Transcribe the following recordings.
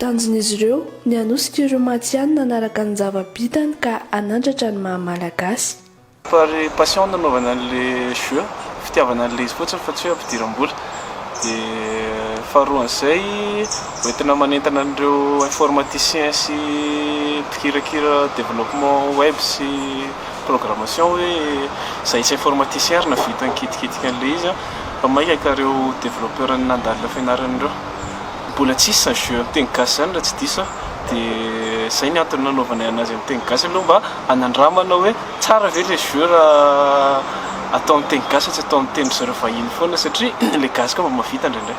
Tanjon'izy ireo ny hanosika ireo matihanina hanaraka ny zava-bitany ka hanandratra ny maha Malagasy. Fa ry passion nanaovana an'ilay jeu fitiavana an'ilay izy fotsiny fa tsy hoe ampidiram-bola dia faharoan'izay hoentina manentana an'ireo informaticien sy mpikirakira développement web sy programmation hoe izahay tsy informaticien ary nahavita nikitikitika an'ilay izy fa maika ka ireo développeur nandalina fianarana ireo Mbola tsisy zany jeux amin'ny teny gasy zany raha tsy diso aho dia izay ny antony nanaovanay anazy amin'ny teny gasy aloha mba hanandramana hoe tsara ve ilay jeux raha atao amin'ny teny gasy fa tsy atao amin'ny teny ry zareo vahiny foana satria ilay gasy koa mba mahavita indraindray.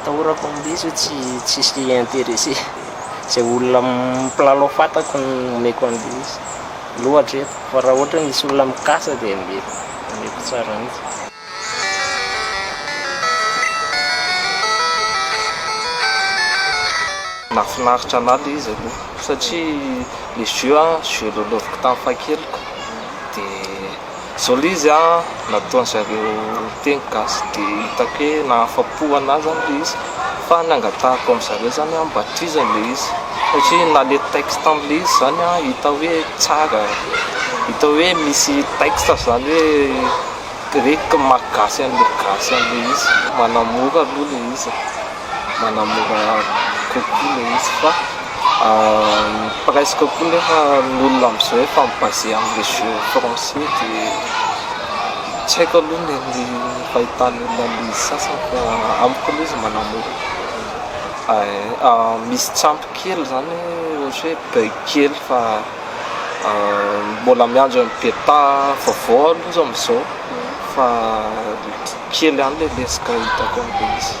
Atahorako am'lesy hoe tsy tsisy intéressé. Zay olona mpilalao fatako no omeko an'lesy loatra eto fa raha ohatra hoe misy olona mikasa dia mety omeko tsara mihitsy. Nahafinaritra anah le izy aloha satria le jeu an jeu lalaoviko tamin'ny fahakeliko de. Joli izy a, nataony zareo teny gasy de hitako hoe nahafapo anahy zany le izy fa ny angatahako am zareo zany a mba tohizany le izy satria na le texte am le izy zany a hita hoe tsara hita hoe misy texte zany hoe grec maha gasy anle gasy anle izy manamora aloha le izy. manamora kokoa ilay izy fa presque koa nefa ny olona amin'izao efa mi-base amin'ny jeux français dia tsy haiko aloha ny an'ny fahitan'ny olona an'ilay izy sasany fa amiko aloha izy manamora misy tsy ampy kely izany ohatra hoe bug kely fa mbola miandry an'ny beta vaovao aloha izy amin'izao fa kely ihany ilay lesoka hitako amin'ilay izy